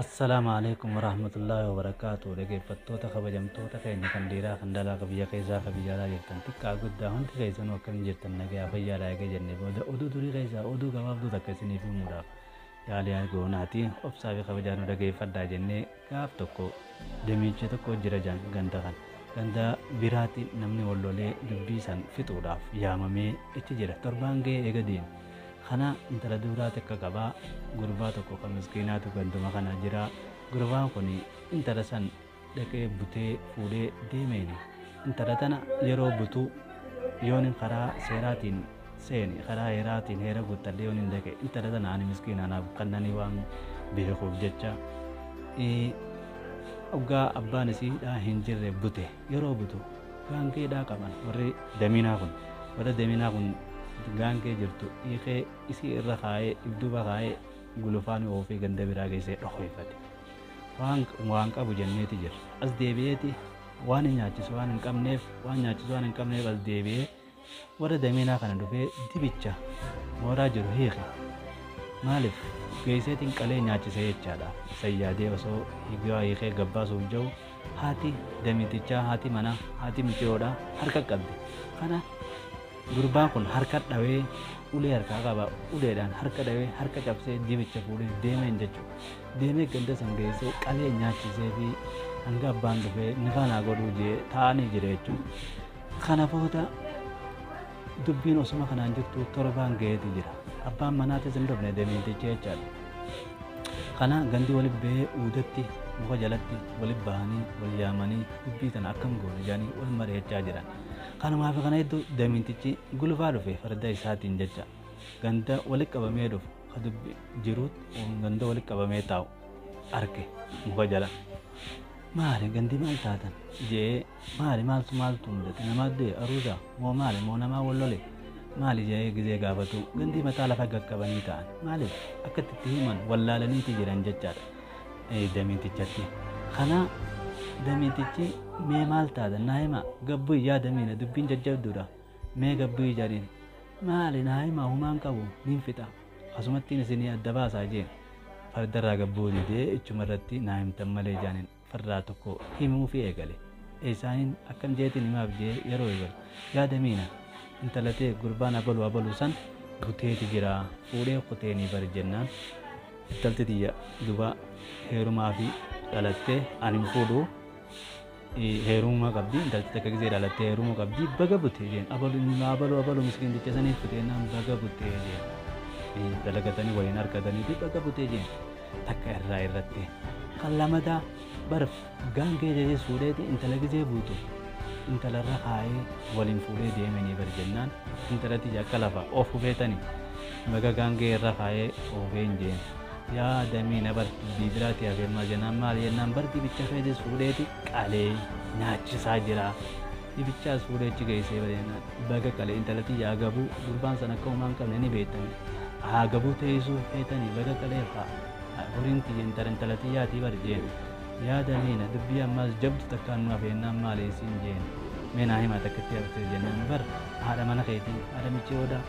Assalaamu alaikum warahmatullaahi wabarakaatu dhaggeeffattoota kabajamtoota keenya kan dhiiraa kan dhalaa kan biyya keessaa kan biyya alaa jirtan xiqqaa guddaa hundi keessanuu akkam jirtan nagaa fayyaadha eega jenne booda oduu durii keessaa oduu gabaabduu takka isiniif himuudhaaf yaalii argoonaati obsaa fi kabajaa nu dhaggeeffadhaa jennee gaaf tokko demiicha tokko jira jedhan ganda kan ganda biraatti namni wal lolee dubbii san fixuudhaaf yaamamee itti jira torbaan ga'ee eega deeme kana intala duuraa takka qabaa gurbaa tokko kan miskiinaatu ganduma kana jira gurbaan kun intala san dhaqee butee fuudhee deemeeni intala tana yeroo butu yoonin karaa seeraatiin seene karaa heeraatiin heera guuttadhe yoon hin dhaqe intala tana ani miskiina anaaf kannanii waan beekuuf jecha oggaa abbaan isiidhaa hin jirre bute yeroo butu gaangeedhaa qaban warri damiinaa kun warri damiinaa kun gaangee jirtu hiikee isii irra kaa'ee ibduuba kaa'ee gulufaan oofee ganda biraa geessee dhokoifate waan waan qabu jenneeti jira as deebi'eeti waan hin nyaachisu waan hin qabneef waan nyaachisu waan hin qabneef as deebi'ee Warra damiinaa kana dhufee dibicha mooraa jiru hiike maalif geesseetin qalee nyaachise jechaadha san yaadee osoo higaa hiikee gabbaasuuf ja'u haati damitichaa haati mana haati miciyoodha harka qabde kana gurbaan kun harka dhawee ulee harkaa qaba uleedhaan harka dhawee harka cabsee dibicha fuudhee deemeen jechuudha deemee ganda san geessee qalee nyaachisee fi hanga abbaan dhufee nifaanaa godhuu jee taa'anii jira jechuudha. Kana booda dubbiin osuma kanaan jirtu torbaan ga'eeti jira. Abbaan manaatis hin dhufne deemtichi jechaadha. Kana gandi walitti ba'ee uudatti muka jalatti walitti ba'anii wal yaamanii dubbii tana akkam goone jedhanii wal mari'achaa jiran. Kanumaa fi kana hedduu deemtichi gulufaa dhufe farda isaatiin jecha ganda walitti qabamee dhufu ka dubbi jiruut ganda walitti qabamee taa'u arge muka jala. Maali gandi maal taatan? jedhee Maali maaltu maaltu mudate namaa du'e aruuza moo maali moo namaa wal lole maali jedhee gizee gaafatu gandii mataa lafa gaqqabanii ta'an maaliif akka itti himan wallaalaniiti jiran jechaadha damiitichatti. Kanaa damiitichi mee maal taatan naa himaa gabbuyi yaa damiina dubbiin jajjabduudha mee gabbuyi jariin maali naa himaa humaan qabu niin fixa asumattiin isinii adda baasaa jeen fardarraa gabbuu didee ichumarratti naa himtan malee jaaniin. fardaa tokko himuufii eegale. Eesaaniin akkam jeetiin himaaf jee yeroo eegalu yaada miina intala tee gurbaan abalu abalu san buteeti jira fuudhee kuteenii bari jennaan intalti tiyya duba heerumaafii dhalattee an hin fuudhu heerumuma qabdi intalti takka gizee dhalattee heerumuu qabdi baga butee jeen abalu abalu abalu miskiin jecha saniif kuteenaan baga butee jeen dalagatanii waliin argatanii fi baga butee jeen. takka irraa irratti kan lamataa barf gaangee jedhee suudheeti intala gizee buutu intala irra kaayee waliin fuudhee deemanii bar jennaan intalatti akka lafa of hufeetani baga gaangee irra kaayee oofee hin jeen yaa damii na bar dubbii biraati hafeemmaa jennaan maal jennaan bar dibicha keetis fuudheeti qalee nyaachisaa jiraa. Dhibichaas fuudhee achi geessee bareena baga qale intala tiyya agabuu gurbaan san akka homaa hin qabne ni beektani haa agabuu teeysuu feetani baga qalee haa horiin tiyya intala intala tiyyaatii bar jeen yaa damiina dubbii ammaas jabdu takkaan nu hafeennaan maali isiin jeen mee naa himaa takkitti haftee jennaan bar haadha mana keetii haadha michii odaa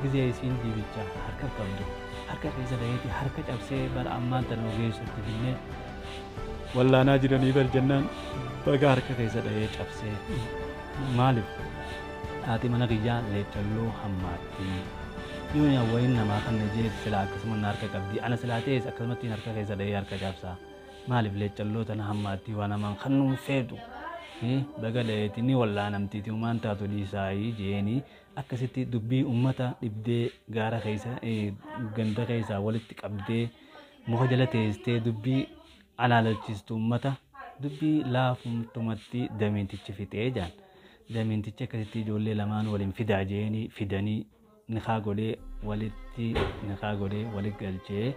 gizee isiin diibicha harka qabdu harka keessa daheeti harka cabsee bar ammaan tan nu geessutti finnee wallaanaa jiranii bar jennaan baga harka keessa dhahee cabsee maaliif haati mana kiyyaa leechalloo hammaatti yoo yaa wayin namaa kan na jeetu silaa akkasuma na harka qabdi ana silaa ta'es akkasumatti harka keessa dhahee harka cabsaa maaliif leechalloo tana hammaatti waan namaan kan nuun feetu baga dhaheeti ni wallaanamtiiti umaan taatu dhiisaayii jeeni akkasitti dubbii ummata dhibdee gaara keessa ganda keessaa walitti qabdee Muka jala teestee dubbii alaalalchiistu ummata dubbii laafumtumatti damiintichi fixee jaan. Damiintichi akkasitti ijoollee lamaan waliin fidaa jeeni fidanii nikaa godhee walitti nikaa godhee walitti galchee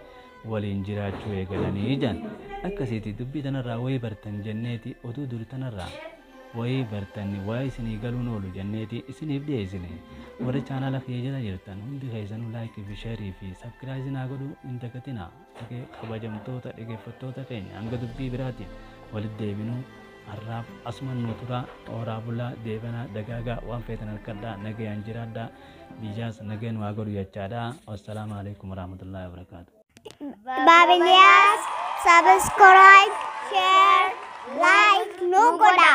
waliin jiraachuu eegalanii jaan. Akkasiiti dubbii tanarraa wayii bartan jenneeti oduu duri tanarraa. wayii bartan waa isinii galuun oolu jenneeti isiniif dhiyeessine warri chaanaala kiyya jala jirtan hundi keessanuu laayikii fi sheerii fi sabkiraayizii naa godhuu hin dagatinaa Dhage- kabajamtoota dhaggeeffattoota keenya hanga dubbii biraatiin walitti deebinuu har'aaf asuman nu turaa hooraa bulaa deebanaa dagaagaa waan feetan harkadhaa nagayaan jiraadhaa biyyaas nagayaan waa godhu jechaadha wassalaamu alaikum warahmatullaahi wabarakaatu Babilias subscribe, share, like nu godha.